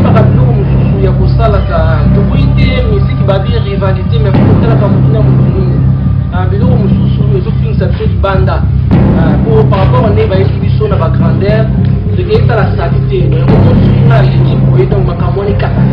toyebaka biloko mosusu ya kosalaka tokoyi te miziki babi rivalité mais kokotalaka motu na moto nini ah, biloko mosusu ezofingisa biso libanda ah, po par rapport nde bayesi biso na bagrandeur tokei tala saki te okosuinga aleki boye donc makambo wana ekatana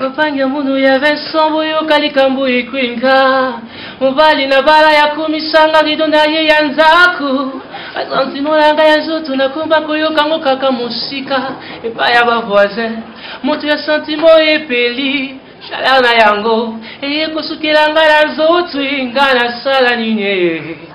Lopange munu ya Vincent boyoka likambo ekwinga mobali na bala ya komisanga lido na ye ya nzaku basantima na ngai ya nzoto nakomba koyoka ngo kaka mosika epai ya bavoisin moto ya santimo epeli shalana yango eye kosukela ngai na nzoto ngai nasala nini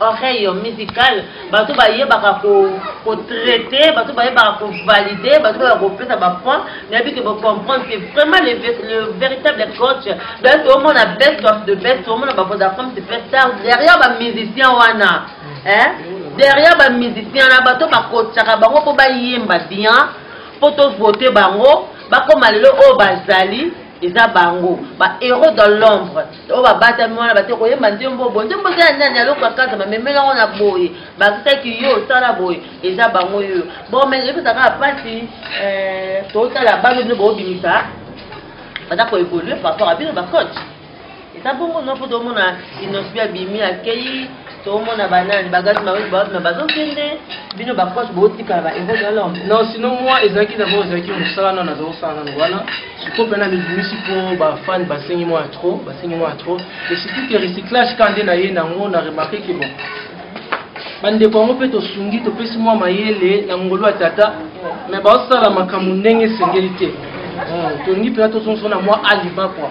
oreille musicale bato bayebaka kotraite ko bato bayebaka kovalide bato bayaka kopesa bapoint nayebi ke bocomprendre ke vraiment le, le véritable coach donc toomona best of the best toomona bavodacom superstar derrière bamusicien wana eh? derrière bamusicien na bato bakotaka bango mpo bayemba bien mpo tovote bango bakoma lelo oyo bazali eza bango ba héros dans l'ombre oyo babatami wana bate koyemba nzembo oyo bo nzembo eza ya nani aloko akazama memela yango na boye bakisaki yo osala boye eza bango yoyo bon mais epesa kaka mpasi eh, totala bano bino boobimisa baza koevolue par rapport ya bino bacoach eza bongo no mpo tomona inosbi abimi akei tomona banani bagati mawetu bawapi ma bazokende bino baproche bootikala ba héros de l'homme non sinon moi ezalaki d'abord ezalaki mosala nano naza kosala nano wana sikoyo mpena mibimisi mpo bafani basengi mwa ya trop basengi mwa ya trop et surtout ke recyclage ka nde na ye nango na remarke ke bon bandeko yango mpe tosungi topesi mwa mayele na ngolu ya tata mais baosala makambo ndenge esengeli te hmm, tolingi mpena tozongisona mwa aliba kua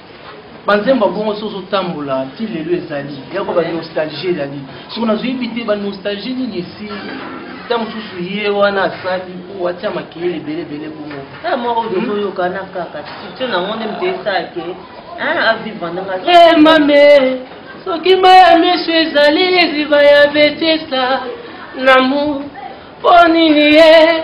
banzembo bongo so ozotambola ti lelo ezali yako banostalgie ezali soko nazoyebi te banostalgie nini esi ta mosusu ye wana asali po atia makeyele ebele ebele bongo eh, moko hmm? tozoyokana kaka sitio nango nde moto esake avivre ndanga eh, mame soki mai ya miso ezali liziba ya betesa lamour mpo nini ye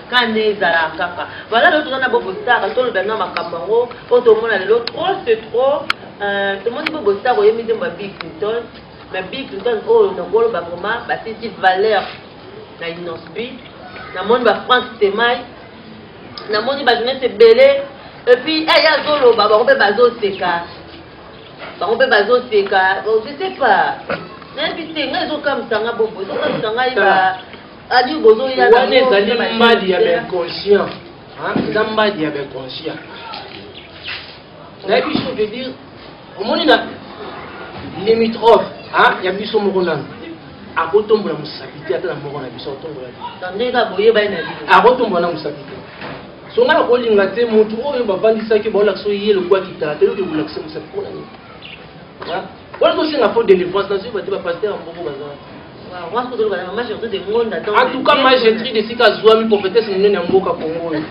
kanda ezala kaka voilà lelo toza na bobo star kasi tolobela na makambo yango oyo tomona lelo trop ce trop euh, tomoni bobo star oyemi nzembo ya bill clinton mais bill clinton oyo oh, nakoloba vraimen batisi valeur na innosbi namoni ba frank stemai namoni bato neti ebele epuis eh, eye azoloba bango mpe bazoseka bango mpe bazoseka oh, je sais pas nayebi te ngai ezokamisa nga bobo ezokamisa ngai ba Adi bozo ya wana ezali mbadi ya inconscient. Hein, eza mbadi ya inconscient. Nayebi biso veut dire omoni na limitrophe hein, ya biso moko nanu akotombola mosapi te ata na moko na biso akotombola akotombola na mosapi te so ngai nakolinga te motu oyo bavandisaki baolakisa ye lokola kitala te yoke kolakisa mosapi mpona nini Wana ko senga fo délivrance na suiva te ba pasteur ya mbongo baza wana. Wana ko zoloka na ma Gertrude de Ngonda donc. En tout cas ma Gertrude esika azuami prophétesse monene ya mboka Congo oyo.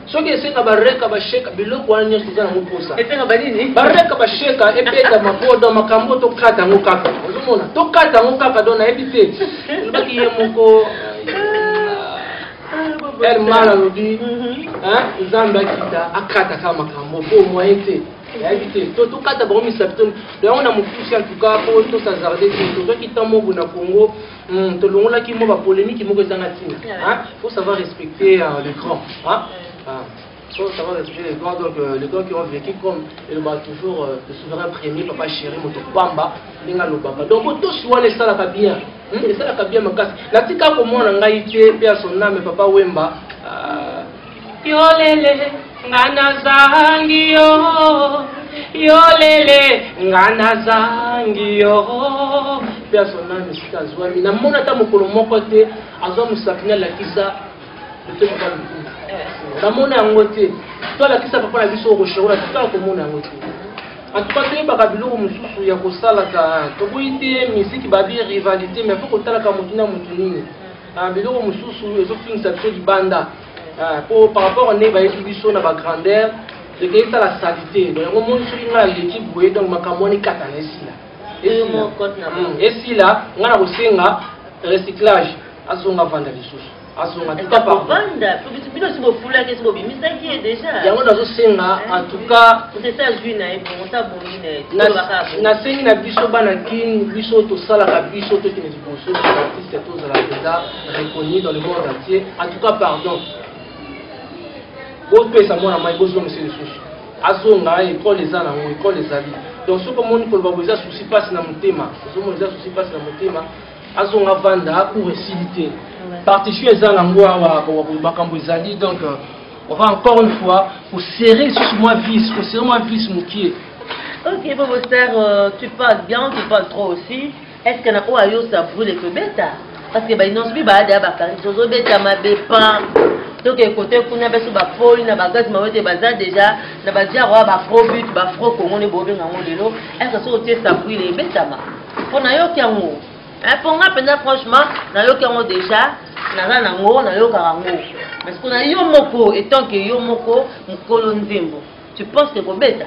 Soki esenga ba reka ba sheka biloko wana nyonso eza nango posa. Esenga ba nini? Ba reka ba sheka ebeta mabodo makambo to kata ngo kaka. Ozomona to kata ngo kaka donc nayebi te. Lobaki ye moko El mal alobi, hein, Nzambe akita akata kama makambo po moyen te. nayebi te to tokata bango misapi to yango na mokusi en tout cas mpo tosazarde te tozwaki temps moko na congo hmm, tolongolaki mwa bapolemiki moko ezanga ntina faut savoir respecter euh, le grand faut savoir respecter les grands donc euh, les grands qui ont vécu comme elobaka toujours euh, le souverain premier papa chéri moto pamba ndenge alobaka donc otosi wana esalaka bien hmm, esalaka bien makasi natika komona ngai te mpe ya son ame papa wemba yolele nga nazangi yo yolele nga nazangi yo mpe azona misika azwami namona ata mokolo moko te azwa mosapi nalakisa lotomoka lokumu namona yango te to alakisa papa na biso okoshekola totala komona yango te antuka toyebaka biloko mosusu ya kosalaka tokoyi te miziki babi rivalité mais fo kotalaka motu na motu nini Ah, biloko mosusu ezotungisa biso libanda ah, po par rapport nde bayeki biso na bagrandeur eke esala salite don yango moni soki ngai aleki boye donc makambo wana ekata na esila hmm, esila ngai na kosenga recyclage azonga vanda lisusu azonga yango nazosenga en tout cas nasengi na biso bana kin biso tosalaka biso tokende Bonjour, artiste et tous à la César, reconnu dans le monde entier. En tout cas, pardon. bopesa mwana mai bozongisa lisusu azonga ekole eza nango ekole ezali donc soki omoni koloba bo eza susi mpasi na motema ozomona eza susi mpasi na motema azonga vanda cour esili te partition eza nango awa makambo ezali donc euh, on va encore une fois koserre lisusu mwa vis koserre mwa vis mokie ok bobo star euh, tu parles bien tu parles trop aussi Est-ce que na oyo ayosa brûle tobeta parce que ba inonce bi baada ya bakari tozobeta mabe pan toke kote kuna biso bapoli na bagazi mawete baza deja na badiaro ya baprobut bafro congo nde bobenga yango lelo eke soki otie sabrile ebetama mpo nayoki yango mpo nga mpenza franchement nayoki yango deja naza nango nayokaka yango mais kuna yo moko etant ke yo moko mokolo nzembo tu penses que kobeta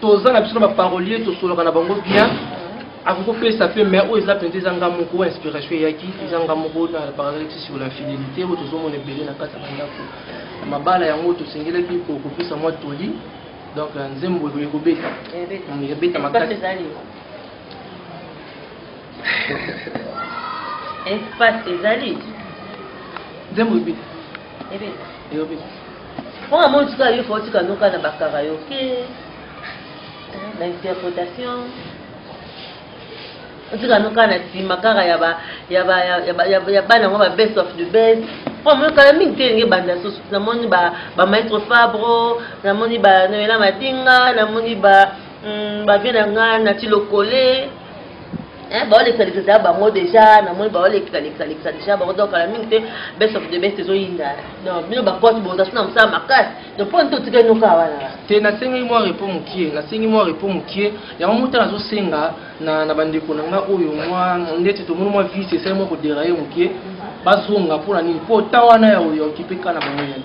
toza na biso na baparolier tosoloka na bango bien akoki kopesa mpe mai oyo eza mpenza eza nga moko oyo inspiration eyaki eza nga moko na paraleleti sur la fidélité oyo tozomona ebele na kati ya bandako na mabala yango tosengelaki kokopesa mwa toli donc euh, nzembo ekoki kobeta ebeta makasi espace ezali nzembo ebeta oyo amoni tika yo fo tika noka na bakaraoke na interpretation otika noka na nsima kaka ya bana yango ba best of the best mpo amoni kala mingi te elingi ebanda susu namoni bamaître fabro namoni banoela madinga namoni ba mm, bavie na ngai na tilokole hein baolekisa lekisa ya bango déjà namoni baolekisa lekisa lekisa déjà bango donc kala mingi te best of the best ezoyinda donc bino bapote bozasi na mosala makasi donc mpo nto otikali noka wana te nasengeli mwa repo mokie nasengi mwa repo mokie yango mota nazosenga na, na bandeko na nga oyo mwa ndeti tomoni mwa vise esali mwa koderaye mokie bazonga mpo na nini mpo ta wana ya oyo okipe kaka na bango yene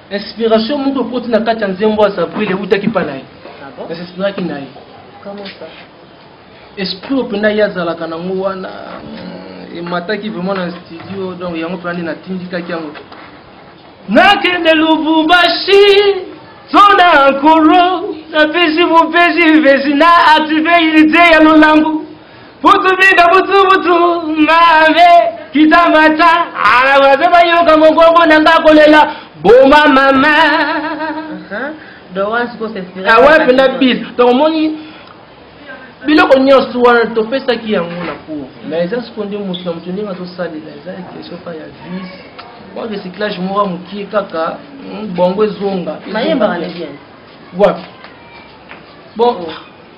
Inspiration moko ekoti na kati ya nzembo ya Sabril ewutaki mpa na ye. Nasinspiraki na ye. Esprit oyo mpenza ye azalaka nango wana mm, emataki vraiment na studio donc yango mpenza nde natindikaki yango. Nakende Lubumbashi sona nkolo napesi mopesi mpesi na active unité ya lolango Butu binda butu butu ngave kita mata ala waze bayoka mogongo na nga kolela boma mama awapi na bis donc omoni biloko nyonso wana topesaki yango na cour mais eza siko nde moto na moto ndenge azosalela eza question ka ya vis mwa recyclage moko ya mokie kaka hmm, bongo ezonga wapi bon oh.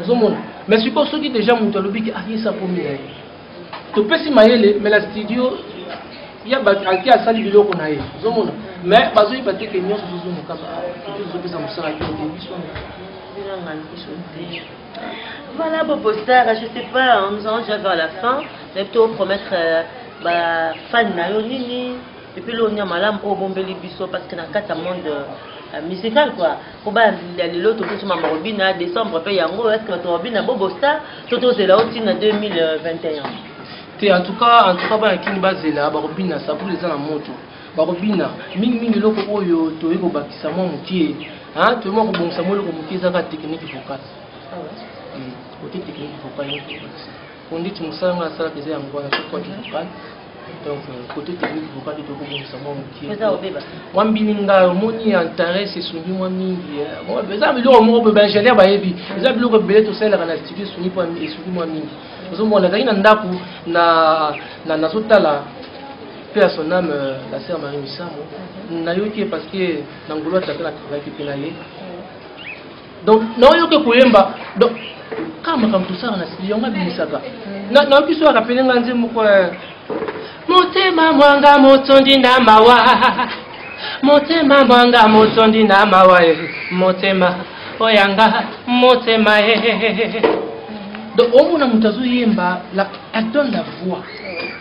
ozomona mais sikoyo soki deja moto alobi ke ayesa akomi na ye topesi mayele mais na studio ya bato ake asali biloko na ye ozomona mais bazoyeba te ke nyonso zozonga kaka ezopesa mosala te te biso bilanga biso te Voilà, Bobo Star, je sais pas, hein, nous allons déjà vers la fin, mais plutôt promettre euh, bah, fan na yo nini, et puis l'on y a malam au bombeli biso parce que dans le monde euh, musical quoi. po bandi ya lelo tokuti mama robina décembre mpe yango eske bato robina bobosa to tozela o ntina 2021 te en tout cas en tout cas bana kini bazela bakobina sabule eza na moto bakobina mingimingi eloko oyo toyei kobakisa mwa mokie toyei mwa kobongisa mwa eloko mokie ezaka technique vocale ah hmm, ote technique vocale Konditi mosala ngai nasalaka eza yango wana sokwaki vocal donc côté euh, technique vocal ete okobongisa mwa mokie mwa mbini ngai omoni ya interès esungi mwa mingi eh. eza biloko moko mpe baingénieur bayebi eza biloko ebele tosalelaka na studio esungi esungi mwa mingi ozomona nazalaki na ndako na nazotala mpe ya son ame euh, la sœur marie misambo mhm. nayoki ye parce que na ngolo atata na travaillaki mpe na ye donc naoyoke koyemba donc kaka makambo tosala na studio yango abimisaka nayoki so arapele nga nze moko eh. motema mwanga motondi na mawa motema mwanga motondi na mawa eh. motema oyanga motema eh. donc omona moto azoyemba la donne la voix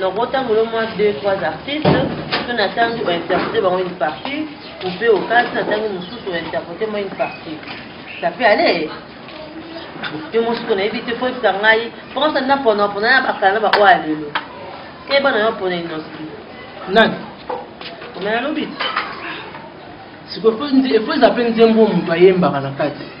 Donc botambola au moins 2 3 artistes mpe na ntangi ointerprete bango une partie ou mpe okati na ntangi mosusu ointerprete mwa une partie ça peut aller yo mosuku nayebi te fo yebisa ngai mpokosa na pona pona na bakala na baoyo ya lelo te bana yo pona inoski nani omela lobi sikoyo efo eza mpe nzembo moto ayembaka na kati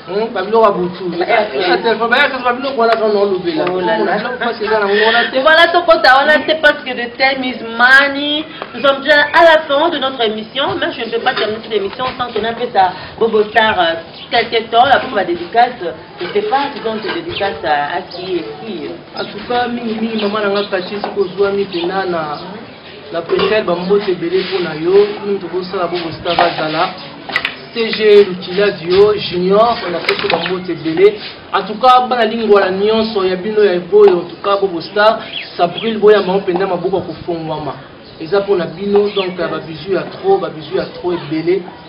Hmm, babiloko ya butu voilà tokota wana te parce que the time is money nous sommes déjà à la fin de notre émission mais je ne peux pas terminer cette émission sans qu'on appelle ça bobo star euh, quelque temps la pour ma dédicace je ne sais pas si donc te dédicace à qui et qui en tout cas mingi mingi maman nanga kati soki ozwami mpenza na La Bretelle, bambote ebele mpo na yo kunu tokosala bo bosita bazala CG Lukila Dio Junior na peso bambote ebele en tout cas bana lingwala nyonso ya bino ya eboyo en tout cas bobo star sabril boyamba ngo mpenza maboko ya kofongwama eza mpo na bino donc ya babizu ya trop babizu ya trop ebele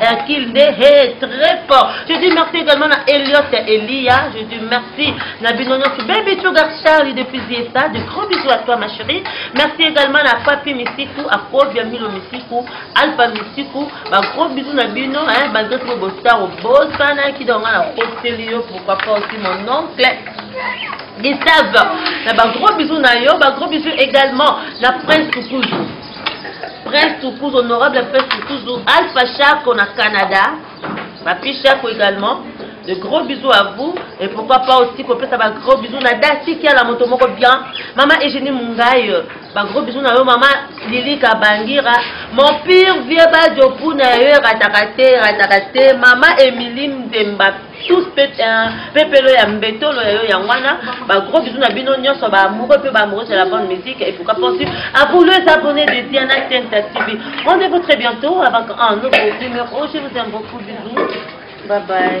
Hercule nde he très fort je dis merci également na Elliot ya Elia je dis merci na bino nyonso baby sugar Charlie depuis Ziesa de gros bisous à toi ma chérie merci également na Papi Misiku Akobia Milo Misiku Alpha Misiku ba gros bisous na bino hein ba ndoto bo bostar obosana ki donc na koteli yo pourquoi pas aussi mon oncle Gustave na ba gros bisous na yo ba gros bisous également na Prince Kukuzu Prince Tukuzu, honorable Prince Tukuzu, Alpha Chaco na Canada, Papi Chaco également. De gros bisous à vous et pourquoi pas aussi qu'on peut avoir gros bisous na Dati qui a la moto moko bien. Maman Eugénie Mungaï, ba gros bisous na yo maman Lili Kabangira, mon pire vieux Badjo Puna yo ratakate ratakate, maman Emeline Demba tous pepelo ya mbetolo ya yo yango wana bagros bizu na bino nyonso baamoureux mpe baamoureuses ya la bonne musique et pourquoi pensu à vous les abonnés de diana tenta tv rendez-vous très bientôt avec un nouveau numéro je vous aime beaucoup bisous bye bye